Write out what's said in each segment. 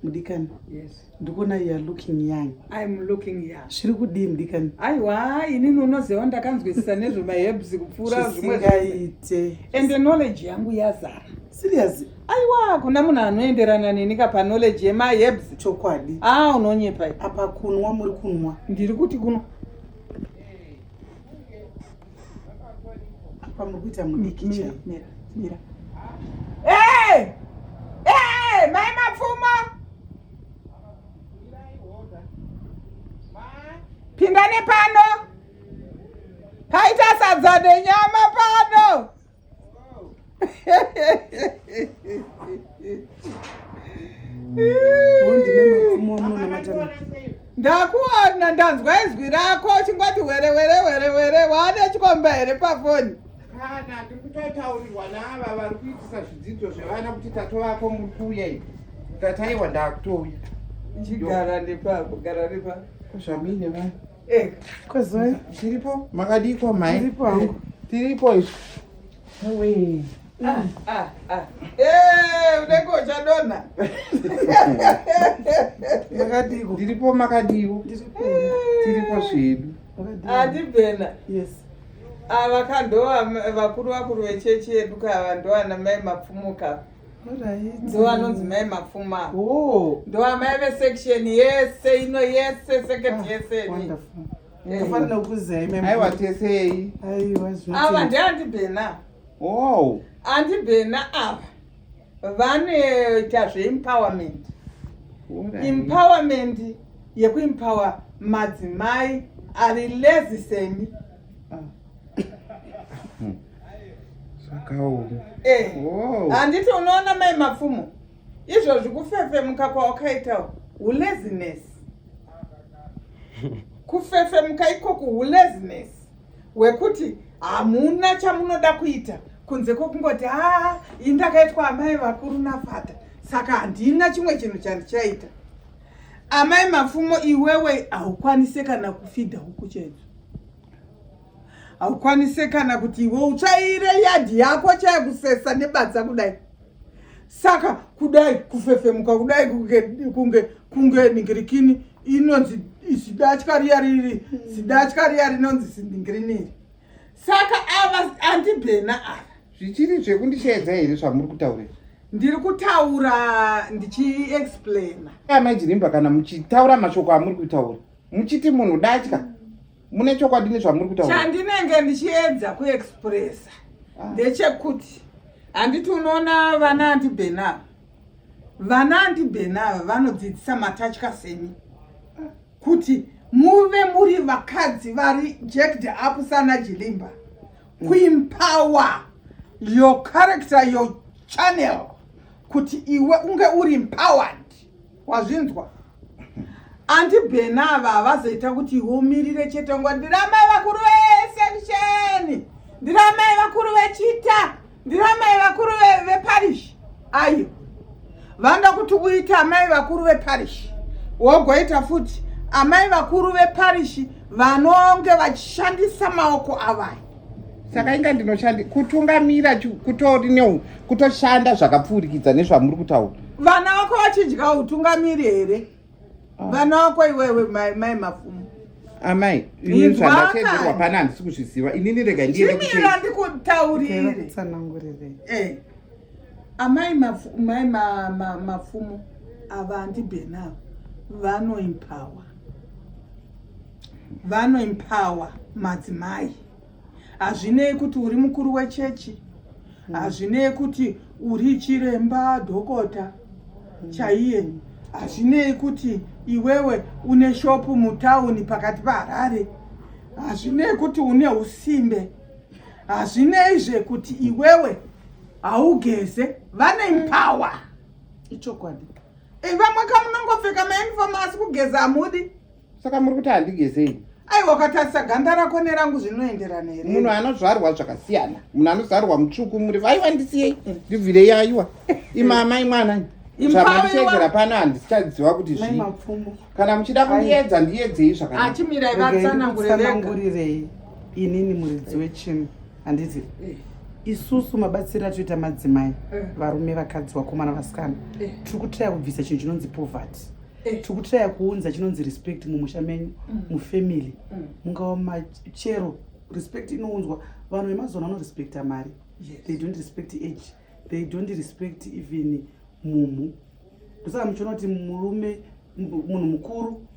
mudikani yes. ndikuona you are looking young I'm looking young zviri kudii mudikani aiwa inini unoziva ndakanzwisisa nezvemahebs kupfuura zvisingaite ende knowledge yangu yazara serious aiwa kuna munhu anoenderana neni ka paknowledge yemahebs chokwadi a ah, unonyepa apa kunwa muri kunwa ndiri kuti kunwa apa muri kuita mudiki chaiyo mira mira hey! hey! mai mapfumo pindani pano paita sadza nenyama pano ndakuona ndanzwa izwi rako chingoti were were were were waane chikomba here pafoni kana tiri kutotaurirwa naava vari kuitisa zvidzidzo zvevana kuti tatovako muri kuuya ivi tataiwa ndakutouya chigara nepapo gara nepapo zvamine vanhu Eh, Kozoi. Tiripo. Makadiko mai. Tiripo hangu. Tiripo isu. Wee. Ah, ah, ah. Eh, unenge uchadonha. Makadiko. Tiripo makadiko. Tiripo. Tiripo zvedu. Atibhena. Yes. Ava ah, kandova vakuru vakuru vechechi yedu kava ndovana mai mapfumuka. ndo anonzi mai mapfuma oh. ndo amai vesection yese ino yese seket ah, yese afanira kuziaiwa tesei ava ndeandibhena oh. andibhena ava vanoita zveempowerment empowerment yekuempower madzimai ari lezi semi zvakaoma eh. handiti eh. unoona mai mapfumo izvo zvikufefemuka kwawakaita hulezines kufefemuka ikoku hulezines hwekuti hamuna chamunoda kuita kunze kwokungoti haa indakaitwa amai vakuru nafata saka handina chimwe chinhu chandichaita Amai Mapfumo, iwewe haukwanise kana kufidha huku chaidzo, haukwanise kana kuti iwe utsvaire yadhi yako chaya kusesa nebadza kudai. Saka kudai kufefemuka kudai kunge kunge kunge ningirikini inonzi zidatya riya riri zidatya riya rinonzi ziningirikini iri. Saka ava andibhena ava. Zvichiri zvekundishaidza here zvamuri kutaurira? Ndiri kutaura ndichiexplaina. Amai Jirimba kana muchitaura mashoko amuri kutaura muchiti munhu datya mune chokwadi nezvamuri kutaura. Chandinenge ndichiedza kuexpressa ah. ndechekuti handiti unoona vana andibenava vana andibenava vanodzidzisa matatya semi kuti muve muri vakadzi vari jacked up sana Jirimba. Queen power your character your channel kuti iwe unge uri empowered wazvinzwa anti bhena ava havazoita kuti iwe umirire chete ngo ndiramai vakuru vesection ndiramai vakuru vechita ndiramai vakuru veparish ayo vanoda kuti uite amai vakuru veparishi wogoita futi amai vakuru veparishi vanonge vachishandisa maoko avaya saka inga ndinoshandi kutungamira kutori neu kutoshanda zvakapfuurikidza nezvamuri kutaura vana vako vachidya utungamiri here ah. vana vako iwewe mai mafumo amai ini zvandatedzerwa pana handisi kuzviziva inini rega ndiendekutsanangurire eh. amai mapfumo ma, ma, ma, ma, ma, ava andibhenava vanoimpawa vanoimpawa madzimai hazvinei kuti uri mukuru wechechi hazvinei kuti uri chiremba dhokota chaiye hazvinei kuti iwewe une shopu mutauni pakati paharare hazvinei kuti une usimbe hazvinei zvekuti iwewe haugeze vane mpower ichokwadi eh, vamwe kamunongopfeka mauniform asi kugeza hamudi saka muri kuti handigezei aiwa ukatarisa ganda rako nerangu zvinoenderana here munhu anozvarwa zvakasiyana munhu anozvarwa mutsvuku muri vaiwa ndisiyei mm. ndibvirei aiwa imamai mwana zvamandisedzera pano handichaziva kuti zvii kana muchida kundiedza ndiedzei zvakanaachimiraivatsanangurirei inini muridzi wechinhu handiti eh. isusu mabatsiri atoita madzimai eh. varume vakadzi vakomana vasikana eh. tiri kutraya kubvisa chinhu chinonzi poverty tiri kutraya kuunza chinonzi respect mumusha menyu mm. mufamily mm. mungava machero respect inounzwa vanhu vemazuva ano vanorespekta mari they don't respect age they don't respect even mumhu ndosaka muchiona kuti murume munhu mukuru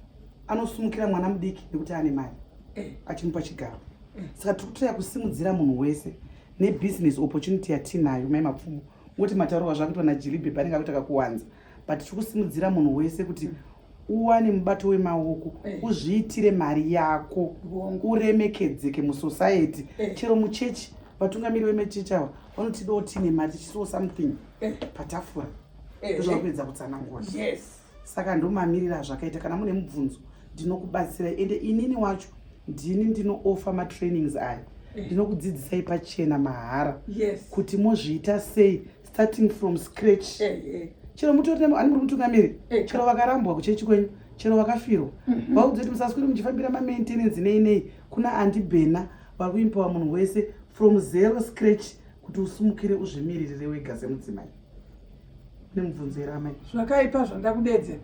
anosumukira mwana mudiki nekuti ane mari eh. achimupa chigaro eh. saka tiri kutoya kusimudzira munhu wese nebusiness opportunity yatiinayo mai mapfumo woti mataurwa zvakuitwa najilibhebha anenge akuita kakuwanza but tiri kusimudzira munhu wese kuti uwane mubato wemaoko eh. uzviitire mari yako uremekedzeke musociety eh. chero muchechi vatungamiri vemechechi ava vanotidawo tiine mari tichisiwo something eh. patafura ndozvakupedza kutsanangura saka ndomamirira zvakaita kana mune mubvunzo ndinokubatsira ende inini wacho ndini ndinoofa matrainings aya ndinokudzidzisai pachena mahara kuti mozviita sei starting from scratch eh, eh. chero mutori ani muri mutungamiri eh. chero vakarambwa kuchechi kwenyu chero vakafirwa mhm. vaudze kuti musaswiri muchifambira mamaintenance nei nei kuna andibhena vari kuimpawa munhu wese from zero scratch kuti usumukire uzvimiririre wega semudzimai nemubvunzo here amai zvakaipa zvandakudedzera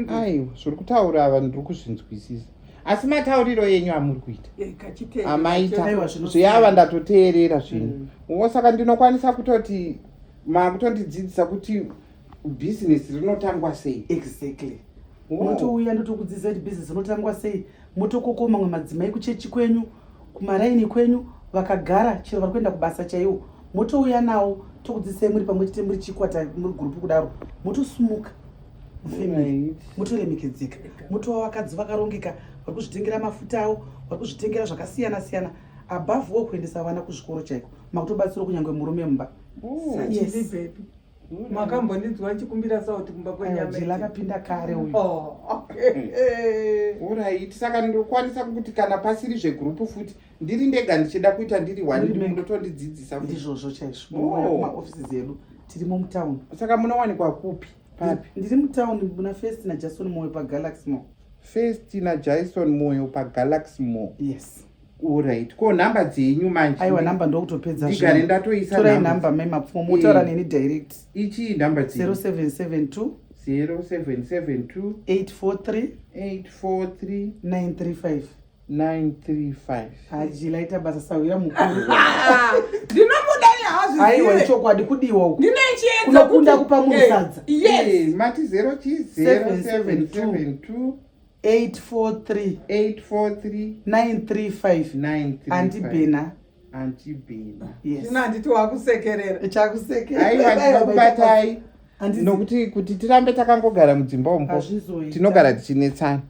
aiwa zviri kutaura ava ndiri kuzvinzwisisa asi matauriro yenyu amuri kuita eh, amaita zveava ndatoteerera zvinhu mm. wo saka ndinokwanisa kutoti makutondidzidzisa kuti bhizinesi rinotangwa sei exactly unotouya ndotokudzidzisa kuti bhizinesi rinotangwa sei motokoko mamwe madzimai kuchechi kwenyu kumaraini kwenyu vakagara chero vari kuenda kubasa chaiwo motouya nawo tokudzidzisai muri pamwe chete muri chikwata muri gurupu kudaro motosumuka mufamily motoremekedzeka motova vakadzi vakarongeka vari kuzvitengera mafuta avo vari kuzvitengera zvakasiyana siyana above wo kuendesa vana kuzvikoro chaiko makutobatsiro kunyange murume mumba mm. yes. makambondinzwa ndichikumbira sauti kumba kwenyamajila akapinda kare uyu oh, hmm. orit saka ndokwanisa kuti kana pasiri zvegrupu futi ndiri ndega ndichida kuita ndiri waninotondidzidzisa ndizvozvo chaizvo oh. maofisi dzedu tirimo mutown saka munowanikwa kupi papi ndiri mutown muna first najason moyo pagalaxy mo first najason moyo pagalaxy mo yes Alright. Ko number dzenyu manje. Aiwa number ndokutopedza zvinhu. Ndigare ndatoisa number. Torai number mai mapfumo motaura eh, neni direct. Ichi number dzenyu. 0772 0772 843 843 935 935. Haji laita basa sahwira mukuru. Ndinomuda hazvizive. Aiwa ichokwadi kudiwa uku. Ndine chiedza kuti. Unokunda kupa munhu eh, sadza. Yes. Eh, mati 0 chi 0772 843 843 935 andibhena andibhena yes ina nditi wakusekerera chakusekerera aiwa ndikubatai nokuti kuti tirambe takangogara mudzimba ombo tinogara tichinetsana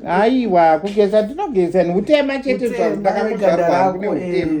aiwa kugeza ndinogeza neutema chete zvandakakuzvarwa kune utema eh.